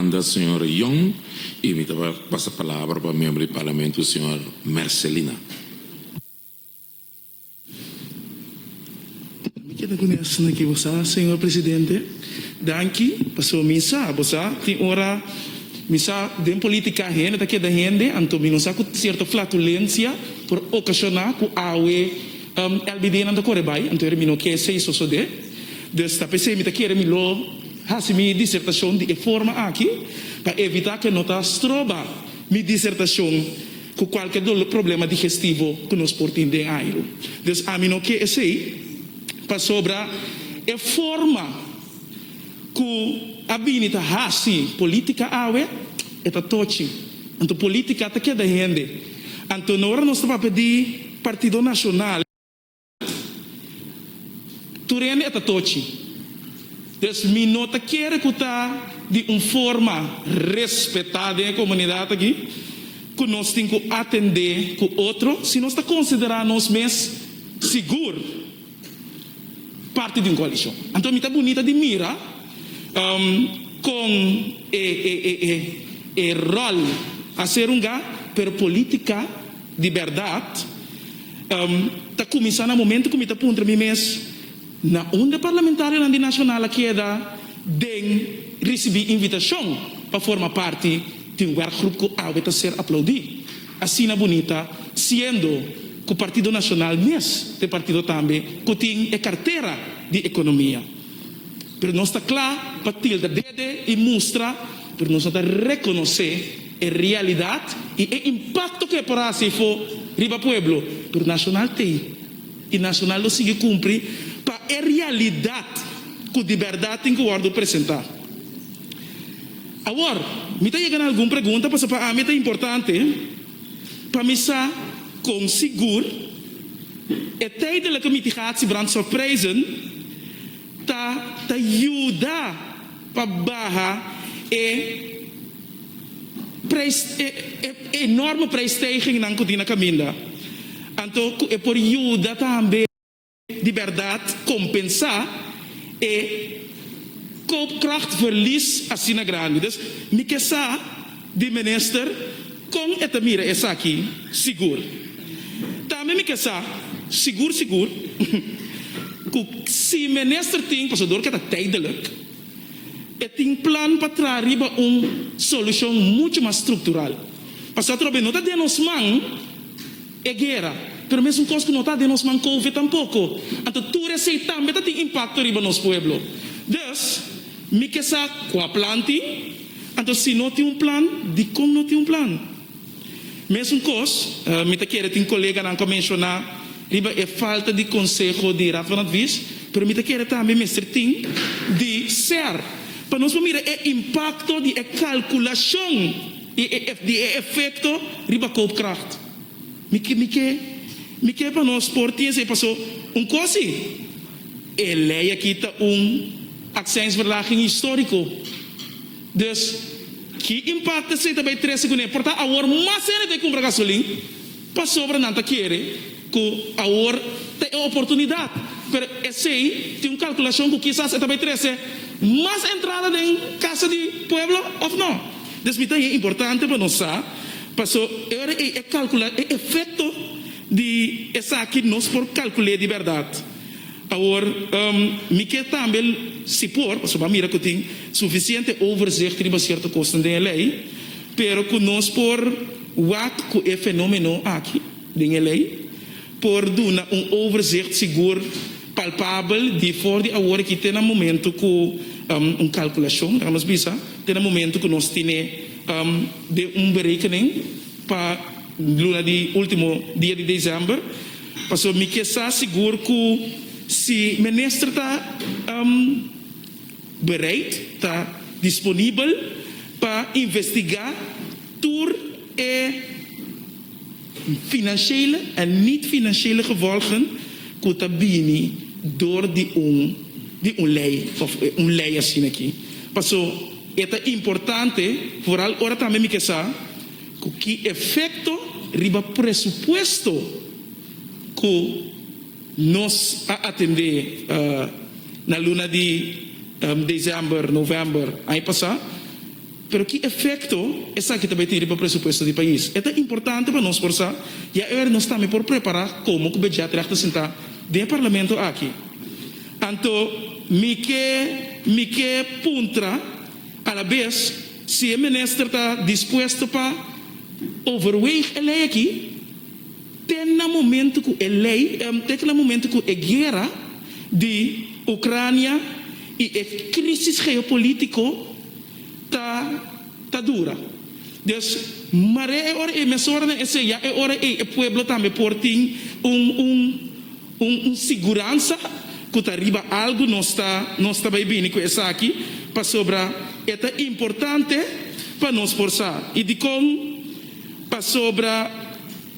Manda señor Young y mi ta pasa palabra pa miembro di Parlamento señor Mercelina. Mi keda kune asina ke bo sa, señor Presidente. Danki, paso mi sa, bo sa, tin ora mi sa den politica hende ta keda hende, anto mi no sa cu cierto flatulencia por ocasiona cu awe LBDnan ta core bay, anto ere mi no ke esey sosode. Dus ta p'esey mi ta kere mi lo. Hasi mi disertashon di e forma aki pa evitá ku e no ta stroba mi disertashon ku kualke doló problema digestivo ku nos por tin den airu. Dus ami no ke esei pasobra e forma ku a bini ta hasi polítika awe e ta tochi. Anto polítika ta keda hende. Anto no ora nos ta papia di Partido Nashonal. Tur hende e ta tochi. Pues mi no ta kere ku ta di un forma respetá den e komunidat aki ku nos tin ku atendé ku otro si nos ta konsiderá nos mes sigur parti di un koalishon. Anto mi ta bunita di mira kon e ròl a ser hunga pero polítika di bèrdat. Ta kuminsá na momento ku mi ta puntra mi mes, Na unda parlamentarionan di Nasional a keda den risibí invitashon pa forma parti di un wèrkgrup ku awe ta ser aplaudí asina bunita, siendo ku Partido Nasional mes ta e partido tambe ku tin e kartera di ekonomia? Pero nos ta kla pa tilda dede i mustra, pero nos no ta rekonosé. E realidat y e impacto cu e por haci efo riba pueblo tur nacional tey y nacional lo sigui cumpri pa e realidat cu di berdad tin cu wordo presenta. Awor, mi ta yega na algun pregunta pasobra pa ami ta importante pa mi sa con sigur e tijdelen cu miti haci brandstofprijzen ta ta yuda. pa baha e prijs e enorme prijsstijgingnan ku tin na kaminda, anto ku e por yuda tambe di bèrdat kompensá e koopkrachtverlies asina grandi. Dus mi ke sa di Minister. Kon e ta mira esaki sigur? Tambe mi ke sa sigur sigur ku si minister tin pasador ke ta tijdelijk, e tin plan pa traha riba un solushon muchu mas struktural. Pasobra no ta den nos man. e guera, pero mesun kos ku no ta den nos man kouve tampoko. Anto tur esei tambe ta tin impakto riba nos pueblo. Dus, mi ke sa kua plan tin? Anto si no tin un plan, dikon no tin un plan? Mesun kos, mi ta kere tin koleganan ku a menshoná riba e falta di konseho di Raad van Advies, pero mi ta kere tambe mester tin di ser pa nos por mira e impakto di e kalkulashon. Di e efecto riba koopkracht. Mi ke pa nos por tin esei paso un kos si e lei aki ta un accijnsverlaging historico. Dus ki impacto esei ta bay trece cune? Por ta awor mas hende ta e cumpra gasolin pasobra nan ta kere. Ku awor ta e oportunidat, pero esei tin un kalkulashon ku kisas e ta bai trese mas entrada den Kasa di Pueblo òf nò. Desbita i e importante pa nos sa, paso e ora ei e kalkula e efekto di esaki nos por kalkul'é di bèrdat. Awor, mi ke tambe, si por, paso bo a mira ku tin sufisiente overzicht riba sierto kosnan den e lei, pero ku nos por wak ku e fenómeno aki. Den e lei por duna un overzicht sigur, palpabel di for di awor aki te na momentu ku un kalkulashon, laga nos bisa, te na momentu ku nos tene den un berekening pa luna di ultimo dia di desèmber. Pasobra mi ke sa sigur ku si minister ta bereid, ta disponibel pa investigá tur e. financiële en niet-financiële gevolgen cu ta bini door di un di un ley of un ley asina aki. Paso e ta importante, vooral ora tambe mi ke sa cu ki efecto riba presupuesto cu nos a atende na luna di december, november aña pasa. Pero ki efekto esaki ta bai tin riba presupuesto di pais? E ta importante pa nos por sa i aver nos tambe por prepará komo ku Budgetreg ta sintá den e parlamento aki. Anto mi ke mi ke puntra alabes si e minister ta dispuesto pa overweeg e lei aki te na momento ku e lei te na momento ku e guera di Ucrania i e krisis geopolitiko ta ta dura. Dios mar'é e ora ey, meshoranan esey, ya e ora ey e pueblo tambe por tin un un un un siguransa cu ta riba algu nos ta nos ta bay bini cu esaki pasobra e ta importante pa nos por sa. Y dicon? Pasobra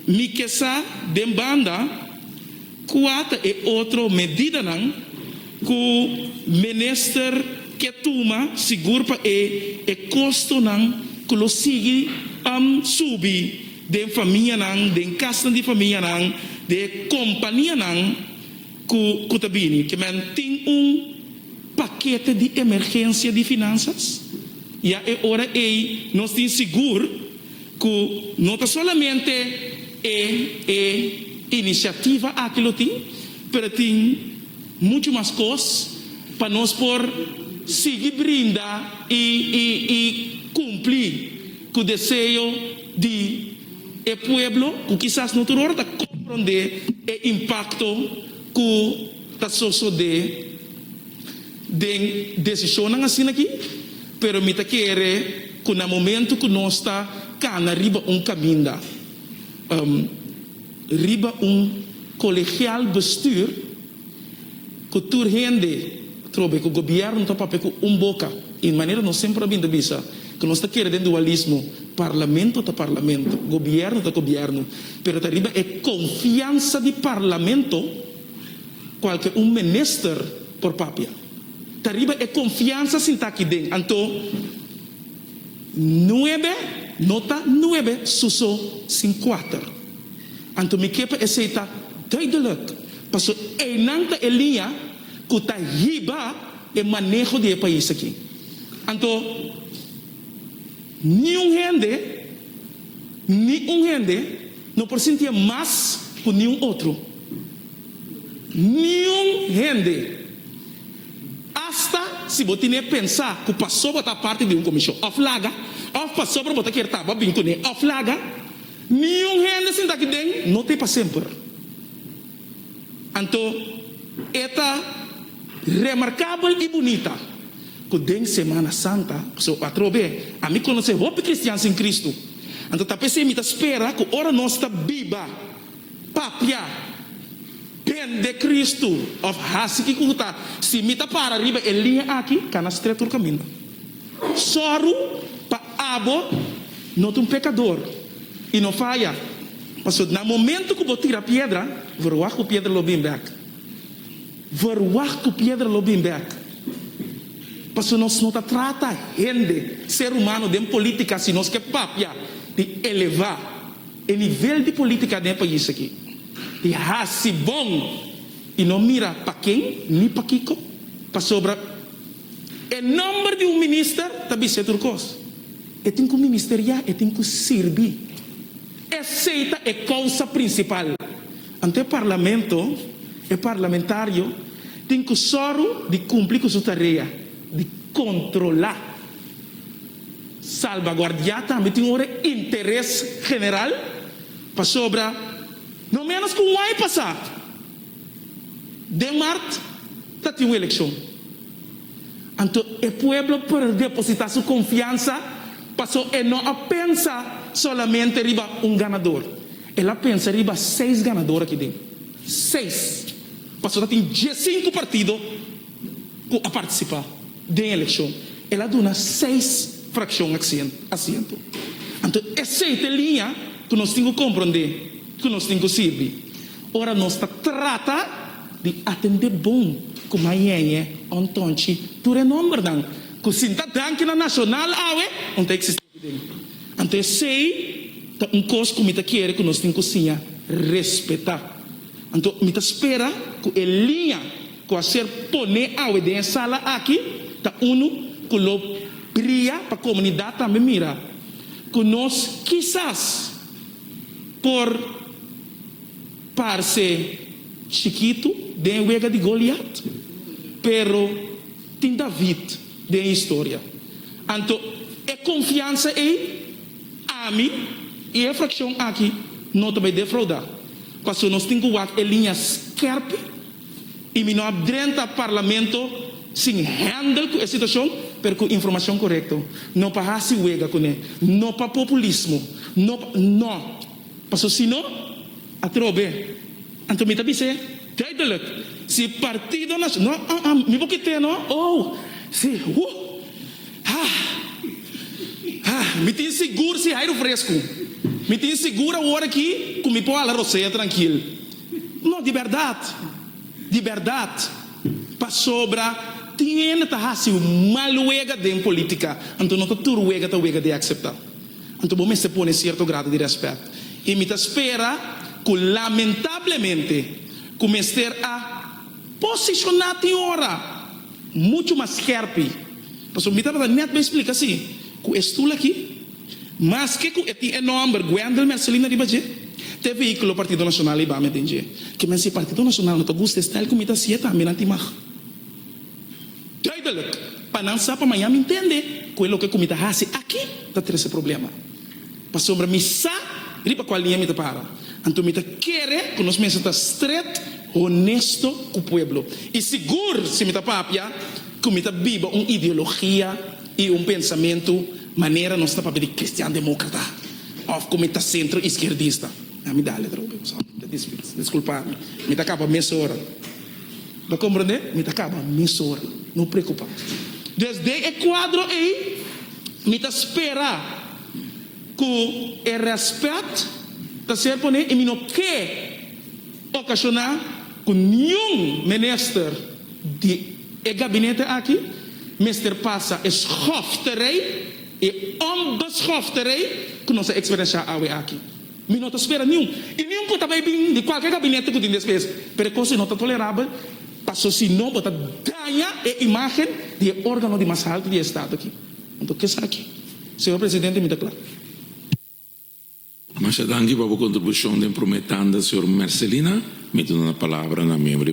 mi ke sa den banda. Kua ta e otro medidanan ku minister ke tuma sigur pa e e kostonan ku lo sigui am subi den famianan, den kasnan di famianan, den e kompanianan ku ku ta bini? Ke men tin un pakete di emergensia di finansas? Ya e ora ei nos tin sigur? ku no ta solamente e e inisiativa aki lo tin, pero tin muchu mas kos pa nos por sigui brinda i i i kumpli ku deseo di e pueblo ku kisas no tur ora ta komprondé e impakto ku ta sosodé. den decisionnan asina aki, pero mi ta kere cu na momento cu nos ta cana riba un caminda, riba un colegial bestuur cu tur hende trobe cu gobierno ta papia cu un boca y manera nos semper a bin ta bisa cu nos ta kere den dualismo, Parlamento ta Parlamento, Gobierno ta Gobierno, pero ta riba e confiansa di Parlamento. cualke un menister por papia. Ta riba e confiansa sinta aki den, anto nuebe no ta nuebe suso sin cuater. Anto mi ke pa esey ta duidelijk, paso eynan ta e liña cu ta hiba e maneho di e pais aki. Anto niun hende, niun hende no por sintie mas cu niun otro. Niun hende, asta si bo tin e pensa ku pasobra bo ta parti di un komishon òf laga, òf pasobra bo ta kier tabao bin kuné òf laga, niun hende sinta aki den no ta e pa semper. Anto e ta remarkabel i bunita ku den Semana Santa, pasobra atrobe ami konosé hopi kristian sin Kristu, anto ta p'esei mi ta spera ku ora nos ta biba Papia den de Kristu of hasi kiko ku ta. Si mi ta para riba e liña aki ka na stretu tur kaminda. Sòru pa abo no ta un pekador i no faya, pasobra na momentu ku bo tira piedra, verwagt ku piedra lo bin bèk. Verwagt ku piedra lo bin bèk. Pasobra nos no ta trata hende, ser humano, den polítika asi. Nos ke papia di elevá. E nivel di politica den e pais aki e haci bon y no mira pa ken ni pa kico pasobra e nomber di un minister ta bisti e tur cos. E tin cu ministeriá, e tin cu sirbi. Esey ta e causa principal. Anto e parlamento, e parlamentario tin cu soro di cumpli cu su tarea di controla. Salbaguardiá tambe tin ora e interes general, pasobra no ménos ku un aña pasá den mart ta tin un elekshon. Anto e pueblo por depositá su konfiansa paso e no a pensa solamente riba un ganador, el a pensa riba seis ganador aki den. Seis, paso ta tin diesinku partido ku a partisipá. den elekshon, el a duna seis frakshon asiento. Anto esei ta e liña ku nos tin ku komprondé, ku nos tin ku sirbi ora nos ta trata di atendé bon ku mañeñe òn tonchi tur e nòmbernan ku sin ta danki na nashonal awe no ta eksistí aki den. Anto esei ta un kos ku mi ta kere ku nos tin ku siña respetá. Anto mi ta spera ku e liña. ku a ser poné awe den e sala aki ta unu ku lo bria pa komunidat tambe mira ku nos kisas por parse chikitu den wega di Goliat, pero tin David den e historia. Anto e konfiansa ei ami i e frakshon aki no ta bai defraudá, pasobra nos tin ku wak e liña skèrp. y mi no a drenta Parlamento sin handle cu e situacion pero cu informacion corecto, no pa haci wega cu ne, no pa populismo, no pa, no, pasobra si no, atrobe, anto mi ta bis'e duidelijk, si e Partido Nacio, no, ah, ah, mi bo kit'e no, oh, si, huh, hah, hah, mi tin sigur si hay rufresco, mi tin sigur awor aki cu mi por hala rosea trankil. No, di bèrdat, di bèrdat, pasobra tin hende ta hasi un mal wega den polítika, anto no ta tur wega ta wega di akseptá. Anto bo mester pone sierto grado di rèspèt. I mi ta spera ku lamentablemente ku mester a posishoná tin ora muchu mas skèrpi, pasobra mi tabata nèt bai splika si ku e stul aki, Maske ku e tin e nòmber Gwendel Mercelina riba dje, te vehíkulo Partido Nacional ei bame den dje. Ke men si Partido Nacional no ta gusta e stèl ku mi ta sié tambe nan tin mag. Duidelijk, pa nan sa pa maña mi ntende ku e loke ku mi ta hasi aki ta trese problema. Pasobra mi sa riba kual liña mi ta para. Anto mi ta kere ku nos mester ta stret, honesto ku pueblo. I sigur si mi ta papia ku mi ta biba un ideologia i un pensamentu Manera nos ta papia di kristian demókrata òf ku mi ta sentro iskierdista. Mi da letra hopi pasobra mi ta dispis. Diskulpá mi. Mi ta kaba mesora. Bo komprondé? Mi ta kaba mesora. No preokupá. Des den e kuadro ei mi ta spera ku e rèspèt ta ser poné i mi no ke okashoná ku niun minister, di e gabinete aki mester pasa e schofte rei, e onbeschofte rei ku nos a eksperensiá awe aki. Mi no ta spera niun i niun ku ta bai bin di kualke gabinete ku tin despees, pero e kos ei no ta tolerabel paso si no bo ta daña e imágen di e órgano di mas haltu di e estado aki. Anto ke esaki, señor presidente, mi ta kla. Masha danki pa bo kontribushon den promé tanda, señor Mercelina. Mi ta duna palabra na miembro di.